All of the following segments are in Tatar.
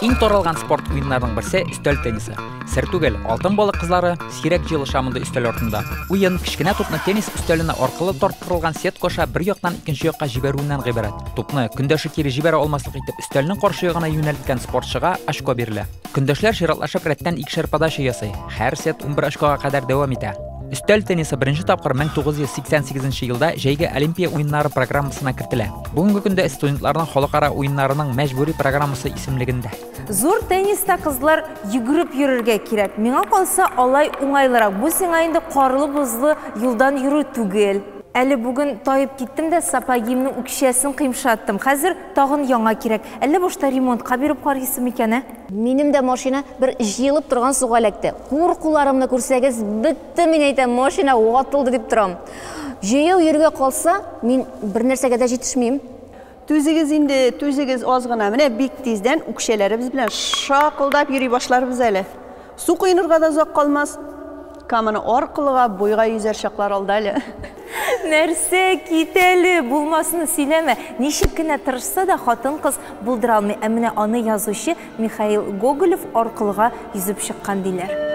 Иң таралган спорт уеннарының берсе өстәл теннисы. Сер түгел, алтын балык кызлары сирәк җыелыша мондый өстәл артында. Уен кечкенә тупны теннис өстәленә аркылы тарттырылган сетка аша бер яктан икенче якка җибәрүеннән гыйбарәт. Тупны көндәше кире җибәрә алмаслык итеп өстәлнең каршы ягына юнәлткән спортчыга очко бирелә. Көндәшләр чиратлашып рәттән икешәр подача ясый. Һәр сет 11 очкога кадәр дәвам итә. Өстәл теннисы беренче тапкыр 1988 елда җәйге Олимпия уеннары программасына кертелә. Бүгенге көндә студентларның халыкара уеннарының мәҗбүри программасы исемлегендә. Зур тенниста кызлар йөгереп йөрергә кирәк. Миңа калса, алай уңайлырак. Бу сиңа инде карлы-бозлы юлдан йөрү түгел. Әле бүген таеп киттем дә сапогимның үкчәсен кыймшаттым. Хәзер Тагын яңа кирәк. Әллә башта ремонтка биреп карыйсы микән, ә? Минем дә машина бер җыелып торган суга эләкте. Куркуларымны күрсәгез, бетте, мин әйтәм, машина ватылды дип торам. Җәяү йөрергә калса, мин бернәрсәгә дә җитешмим. Түзегез инде, түзегез аз гына, менә бик тиздән үкчәләребез белән шакылдап йөри башларбыз әле. Су коенырга да озак калмас. Каманы аркылыга буйга йөзәр чаклар алда әле. Нәрсә, кит әле, булмасны сөйләмә. Ничек кенә тырышса да, хатын-кыз булдыра алмый. Ә менә аны язучы Михаил Гоголев аркылыга йөзеп чыккан диләр.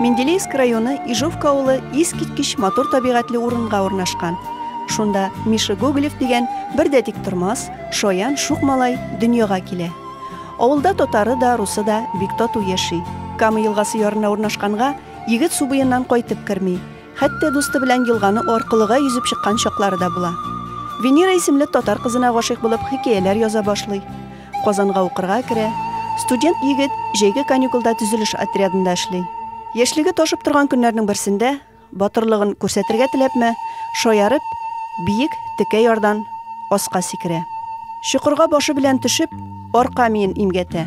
Менделеевск районы Ижовка авылы искиткеч матур табигатьле урынга урнашкан. Шунда Миша Гоголев дигән бер дә тиктормас, шаян шук малай дөньяга килә. Авылда татары да, русы да бик тату яши. Кама елгасы ярына урнашканга, егет су буеннан кайтып керми. Хәтта дусты белән елганы аркылыга йөзеп чыккан чаклары да була. Венера исемле татар кызына гашыйк булып хикәяләр яза башлый. Казанга укырга керә. Студент егет җәйге каникулда төзелеш отрядында эшли. Яшьлеге ташып торган көннәрнең берсендә Батырлыгын күрсәтергә теләпме, шаярып, биек текә ярдан аска сикерә. Чокырга башы белән төшеп, арка миен имгәтә.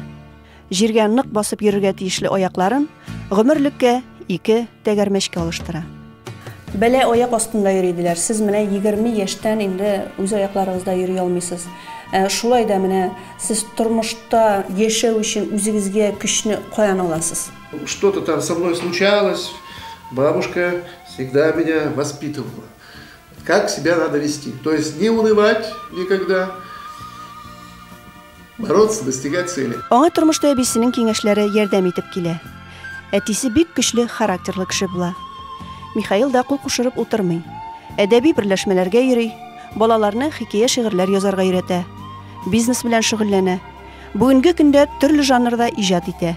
Җиргә нык басып йөрергә тиешле аякларын гомерлеккә ике тәгәрмәчкә алыштыра. Бәла аяк астында йөри, диләр. Сез менә егерме яшьтән инде үз аякларыгызда йөри алмыйсыз. Ә шулай да менә сез тормышта яшәү өчен үзегезгә көчне каян аласыз? Что-то там со мной случалось, бабушка всегда меня воспитывала. Как себя надо вести. То есть не унывать никогда, бороться, достигать цели. Аңа тормышта әбисенең киңәшләре ярдәм итеп килә. Әтисе бик көчле характерлы кеше була. Михаил да кул кушырып утырмый. Әдәби берләшмәләргә йөри, балаларны хикәя шигырьләр язарга өйрәтә. Бизнес белән шөгыльләнә. Бүгенге көндә төрле жанрда иҗат итә.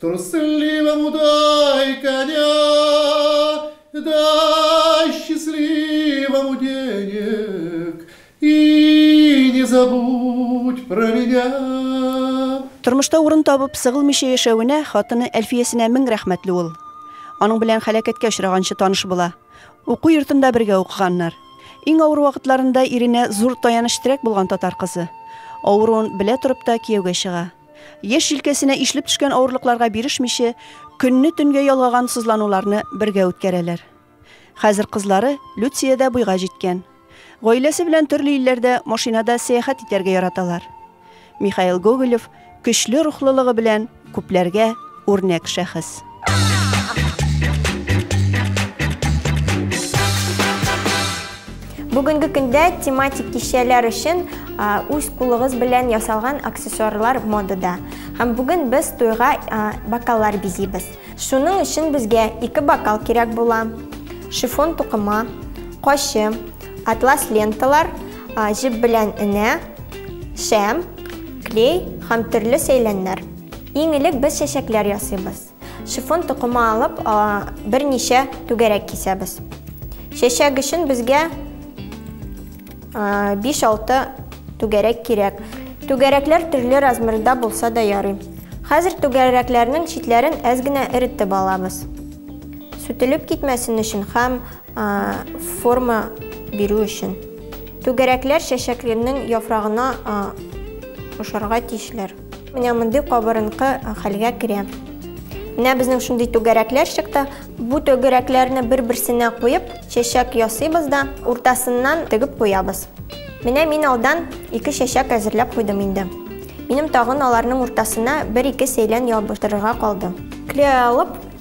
Трусливому дай-ка дя, дай счастливому денег и не забудь про меня. Тормышта урын табып, сыгылмыйча яшәвенә хатыны Әлфиясенә мең рәхмәтле ул. Аның белән һәлакәткә очраганчы таныш була. Уку йортында бергә укыганнар. Иң авыр вакытларында иренә зур таяныч-терәк булган татар кызы. Авыруын белә торып та кияүгә чыга. Яшь җилкәсенә ишлеп төшкән авырлыкларга бирешмичә, көнне төнгә ялгаган сызлануларны бергә үткәрәләр. Хәзер кызлары Люция дә буйга җиткән. Гаиләсе белән төрле илләрдә машинада сәяхәт итәргә яраталар. Михаил Гоголев көчле рухлылыгы белән күпләргә үрнәк шәхес. Бүгенге көндә тематик кичәләр өчен үз кулыгыз белән ясалган аксессуарлар модада. Һәм бүген без туйга бокаллар бизибез. Шуның өчен безгә ике бокал кирәк була. Шифон тукыма, кашы, атлас ленталар, җеп белән энә, шәм, клей һәм төрле сәйләннәр. Иң элек без чәчәкләр ясыйбыз. Шифон токымы алып, берничә түгәрәк кисәбез. Чәчәк өчен безгә 5-6 түгәрәк кирәк. Түгәрәкләр төрле размерда булса да ярый. Хәзер түгәрәкләрнең читләрен әз генә эретеп алабыз. Сүтелеп китмәсен өчен һәм форма бирү өчен. Түгәрәкләр чәчәкләрнең яфрагына ошарга тиешләр. Менә мондый кабырынкы хәлгә керә. Менә безнең шундый түгәрәкләр чыкты. Бу түгәрәкләрне бер-берсенә куеп, чәчәк ясыйбыз да, уртасыннан тегеп куябыз. Менә мин алдан ике чәчәк әзерләп куйдым инде. Минем тагын аларның уртасына бер-ике сәйлән ябыштырырга калды. Клей алып,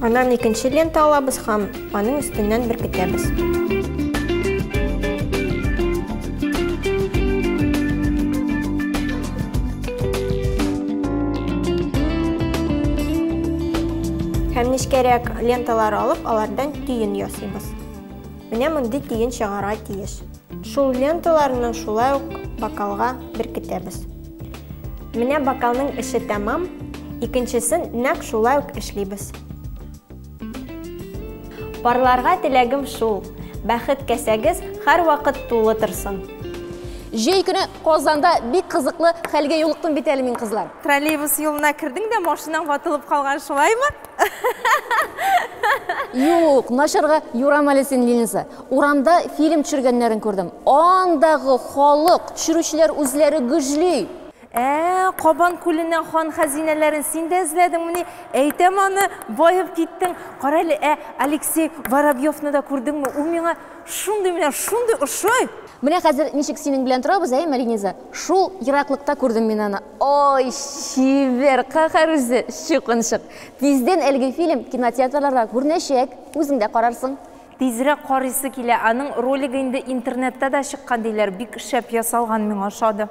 Аннан икенче лента алабыз һәм аның өстеннән беркетәбез. Һәм нечкәрәк ленталар алып, алардан тиен ясыйбыз. Менә мондый тиен чыгара тиеш. Шул ленталарны шулай ук бокалга беркетәбез. Менә бокалның эше тәмам, икенчесен нәк шулай ук эшлибез. Парларга теләгем шул, бәхет кәсәгез һәр вакыт тулы торсын. Җәй көне Казанда бик кызыклы хәлгә юлыктым бит әле мин, кызлар. Троллейбус юлына кердең дә, машинаң ватылып калган, шулаймы? Юк, начарга юрам әле син, Линиза. Урамда фильм төшергәннәрен күрдем. Андагы халык, төшерүчеләр үзләре гөжли. Ә, Кабан күленнән хан хәзинәләрен син дә эзләдеңмени? Әйтәм аны, баеп киттең. Кара әле, ә Алексей Воробьевны да күрдеңме? Ул миңа шундый менә шундый ошый! Менә хәзер ничек синең белән торабыз, әйеме, Линиза? Шул ераклыкта күрдем мин аны. Ой, чибер, каһәр үзе, чукынчык. Тиздән әлеге фильм кинотеатрларда күренәчәк, үзең дә карарсың. Тизрәк карыйсы килә, аның ролигы инде интернетта да чыккан диләр, бик шәп ясалган, миңа ошады.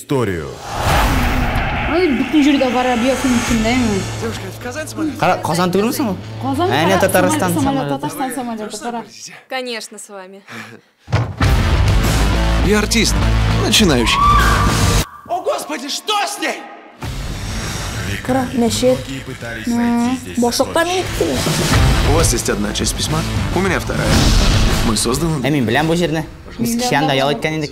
историю. Казан түгелме соң ул? Казан. Әне Татарстан самолеты. Татарстан самолеты кара. Конечно, с вами. Я артист, начинающий. О, господи, что с ней? Кара, мәчет. Башлыкка не иттеме? У вас есть одна часть письма, у меня вторая. Мы созданы... Ә мин беләм бу җирне. Без кичән дә ял иткән идек.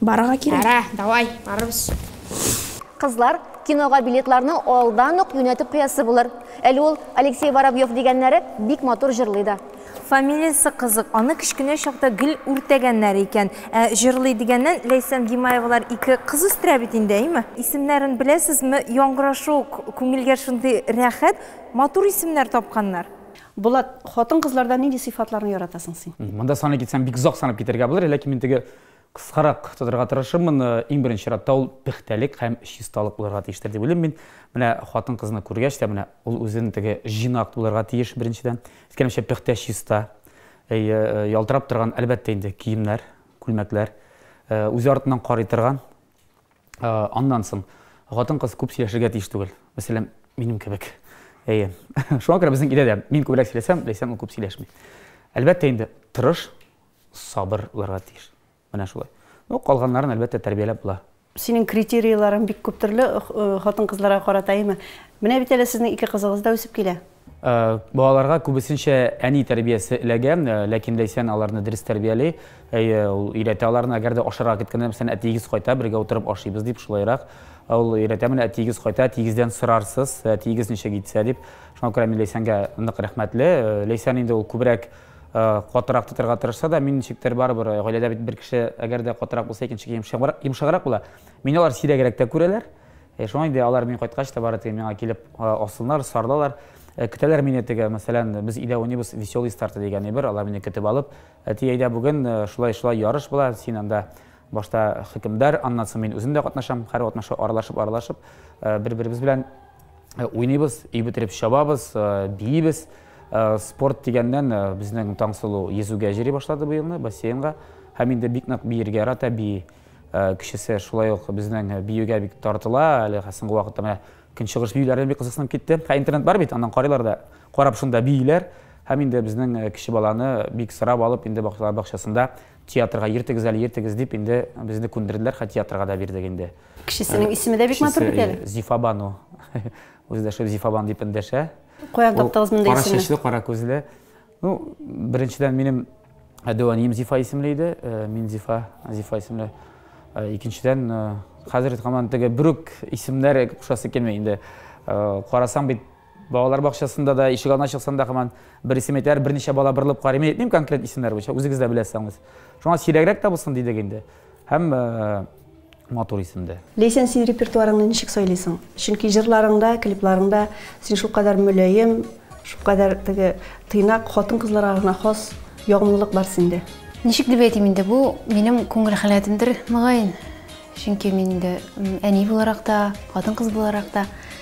Барырга кирәк. Әйдә, давай, барырбыз. Кызлар, кинога билетларны алдан ук юнәтеп куясы булыр. Әле ул Алексей Воробьев дигәннәре бик матур җырлый да. Фамилиясе кызык, аны кечкенә чакта гел үртәгәннәр икән. Ә җырлый дигәннән, Ләйсән Гимаевалар ике кыз үстерә бит инде, әйме? Исемнәрен беләсезме? Яңгырашу ук күңелгә шундый рәхәт, матур исемнәр тапканнар. Булат, хатын-кызларда нинди сыйфатларны яратасың син? Монда саный китсәм, бик озак санап китәргә булыр, ләкин мин теге кыскарак тотарга тырышырмын. Иң беренче чиратта ул пөхтәлек һәм чисталык булырга тиештер дип уйлыйм мин. Менә хатын-кызны күргәч тә, менә ул үзен теге җыйнак булырга тиеш, беренчедән. Искәнемчә, пөхтә, чиста. Әйе, ялтырап торган, әлбәттә инде, киемнәр, күлмәкләр. Үзе артыннан карый торган, Аннан соң хатын-кыз күп сөйләшергә тиеш түгел. Мәсәлән, минем кебек. Әйе. Шуңа күрә безнең өйдә дә мин күбрәк сөйләсәм, Ләйсән ул күп сөйләшми. Әлбәттә инде, тырыш, сабыр булырга тиеш. Менә шулай. Ну, калганнарын әлбәттә тәрбияләп була. Синең критерийларың бик күп төрле хатын-кызларга карата, әйеме? Менә бит әле сезнең ике кызыгыз да үсеп килә. Балаларга күбесенчә әни тәрбиясе эләгә, ләкин Ләйсән аларны дөрес тәрбияли. Әйе, ул өйрәтә аларны, әгәр дә ашарга киткәндә, мәсәлән, әтиегез кайта, бергә утырып ашыйбыз дип, шулайрак ул өйрәтә, менә әтиегез кайта, әтиегездән сорарсыз, әтиегез ничек итсә дип. Шуңа күрә мин Ләйсәнгә нык рәхмәтле. Ләйсән инде ул күбрәк катырак тотарга тырышса да, мин ничектер барыбер, гаиләдә бит бер кеше әгәр дә катырак булса, икенче кеше йомшаграк була. Мине алар сирәгрәк тә күрәләр. Ә шуңа инде алар мин кайткач та бары тик миңа килеп асылнар, сарылалар. Көтәләр мине теге, мәсәлән, без өйдә уйныйбыз Веселый старт дигән әйбер, алар мине көтеп алып, Әти, әйдә бүген шулай-шулай ярыш була, син анда башта хөкемдар, аннан соң мин үзем дә катнашам, һәрвакытны шулай аралашып-аралашып бер-беребез белән уйныйбыз, өй бетереп чабабыз, биибез. Спорт дигәннән безнең Таңсылу йөзүгә йөри башлады бу елны, бассейнга. Һәм инде бик нык биергә ярата, бии. Э, кешесе шулай ук безнең э, биюгә бик тартыла әле соңгы вакытта менә көнчыгыш биюләрдән бик кызыксынып китте ә интернет бар бит аннан карыйлар да карап шунда бииләр һәм инде безнең э, кеше баланы бик сорап алып инде бакчалар бакчасында театрга ертегез әле ертегез дип инде безне күндерделәр хә театрга да бирдек инде кешесенең исеме дә бик матур бит әле зифабану үзе дә шул зифабан дип эндәшә каян таптыгыз мондый исемне кара чәчле кара күзле Ну, беренчедән минем әдүәнием Зифа исемле иде, э, мин Зифа, Зифа исемле. Э, икенчедән, э, хәзер һаман теге бүрек исемнәре кушасы килми инде. Карасаң бит балалар бакчасында да ишек алдына чыксаң да һаман бер исем әйтәләр, берничә бала борылып карый. Мин әйтмим конкрет исемнәр буенча, үзегез дә беләсез. Шуңа сирәгрәк тә булсын дидек инде. Һәм матур исемдә. Ләйсән, син репертуарыңны ничек сайлыйсың? Чөнки җырларыңда, клипларыңда син шулкадәр мөлаем, шулкадәр теге тыйнак, хатын-кызларга гына хас ягымлылык бар синдә. Ничек дип әйтим инде, бу минем күңел халәтемдер, мөгаен. Чөнки мин инде әни буларак та, хатын-кыз буларак та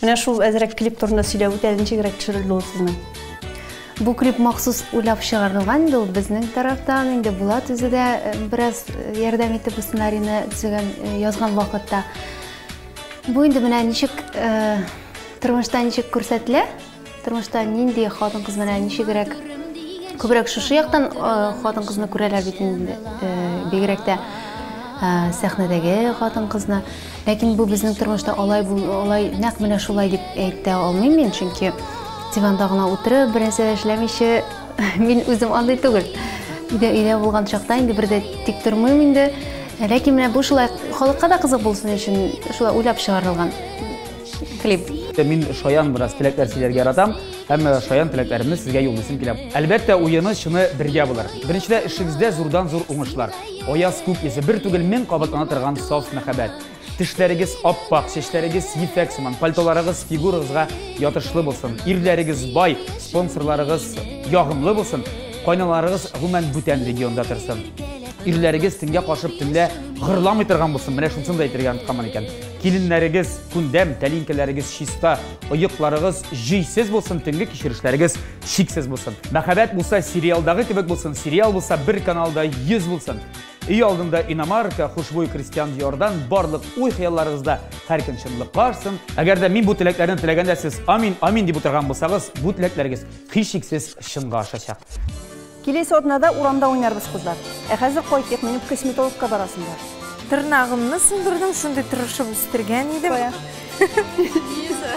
Менә шул әзрәк клип турында сөйләп үтә, ничегрәк төшерелде ул сезнең? Бу клип махсус уйлап чыгарылган инде ул безнең тарафтан, инде Булат үзе дә э, бераз э, ярдәм итеп бу сценарийны төзегән, э, язган вакытта. Бу инде менә ничек тормышта ничек күрсәтелә, Тормышта нинди хатын-кыз менә ничегрәк күбрәк шушы яктан хатын-кызны күрәләр бит инде, бигрәк тә сәхнәдәге хатын-кызны. Ләкин бу безнең тормышта алай бу алай нәкъ менә шулай дип әйтә алмыйм мин, чөнки диванда гына утырып, бернәрсә эшләмичә мин үзем андый түгел. Өйдә өйдә булган чакта инде бер дә тик тормыйм инде. Ләкин менә бу шулай халыкка да кызык булсын өчен шулай уйлап чыгарылган. клип. Мин шаян бераз теләкләр сөйләргә яратам, һәм шаян теләкләремне сезгә юллыйсым килә. Әлбәттә, уены чыны бергә булыр. Беренчедә эшегездә зурдан зур уңышлар. Аяз күк йөзе бер түгел мең кабатлана торган саф мәхәббәт. Тешләрегез аппак, чәчләрегез ефәк сыман, пальтоларыгыз фигурагызга ятышлы булсын. Ирләрегез бай, спонсорларыгыз ягымлы булсын. Кайналарыгыз гомумән бүтән регионда торсын. Ирләрегез төнгә кашып төнлә гырламый торган булсын. Менә шунысын да әйтергә онытканмын икән. Киленнәрегез күндәм, тәлинкәләрегез чиста, оекларыгыз җөйсез булсын, төнге кичерешләрегез шиксез булсын. Мәхәббәт булса сериалдагы кебек булсын, сериал булса бер каналда 100 булсын. Өй алдында иномарка, хушбуй крестьян диярдан барлык уй-хыялларыгызда һәр көн чынлыкка ашсын. Әгәр дә мин бу теләкләрне теләгәндә сез амин, амин дип утырган булсагыз, бу теләкләрегез һичшиксез чынга ашачак. Киләсе атнада урамда уйнарбыз, кызлар. Ә хәзер кайтыйк, минем косметологка барасым бар. Тырнагымны сындырдым, шундый тырышып үстергән идем. Кая? Лиза.